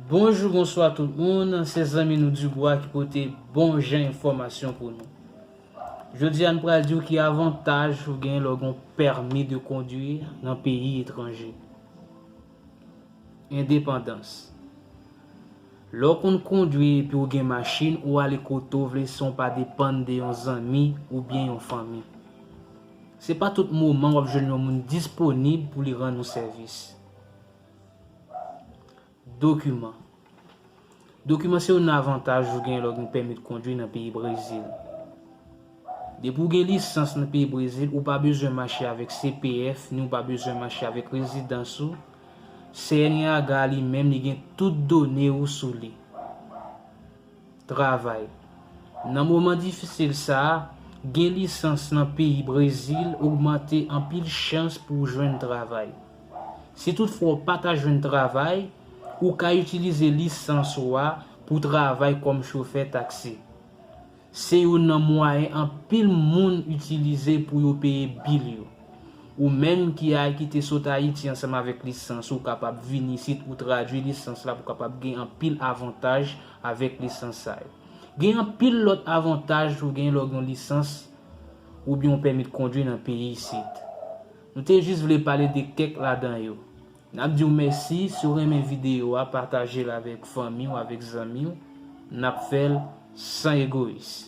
Bonjou bonswa tout moun se zanmi nou Dugwa ki pote bon jan enfòmasyon pou nou Jodi a n pral diw ki avantaj ou gen lè w gen yon pèmi de kondwi nan peyi etranje Endepandans Lè w konn kondwi epi w gen machin ou ale kote w vle san w pa depann de yon zanmi oubyen yon fanmi Se pa tout moman w ap jwenn yon moun disponib pou li rann ou sèvis. Dokiman Dokiman se youn avantaj ou gen lè w gen pèmi de kondwi nan peyi Brezil. Depi w gen lisans nan peyi Brezil, ou pa bezwen mache avèk CPF ni w pa bezwen mache avèk rezidans ou. CNRH li menm li gen tout done ou sou li. Travay. Nan moman difisil sa a, gen lisans nan peyi Brezil ogmante anpil chans pou w jwenn travay. Si toutfwa w pa ka jwenn travay, ou ka itilize lisans ou a pou w travay kòm chofè taksi. Se youn nan mwayen anpil moun itilize pou yo peye bil yo. Ou menm ki a ki te sot Ayiti ansanm avèk lisans ou kapab vini isit pou tradui lisans la pou kapab gen anpil avantaj avèk lisans sa yo. Gen anpil lòt avantaj ou gen lè w gen yon lisans oubyen yon pèmit kondwi nan peyi isit. Nou te jis vle pale de kèk ladan yo. N ap di w mèsi, si w renmen videyo a pataje l avèk fanmi w avèk zanmi w, n ap fè l san egoyis.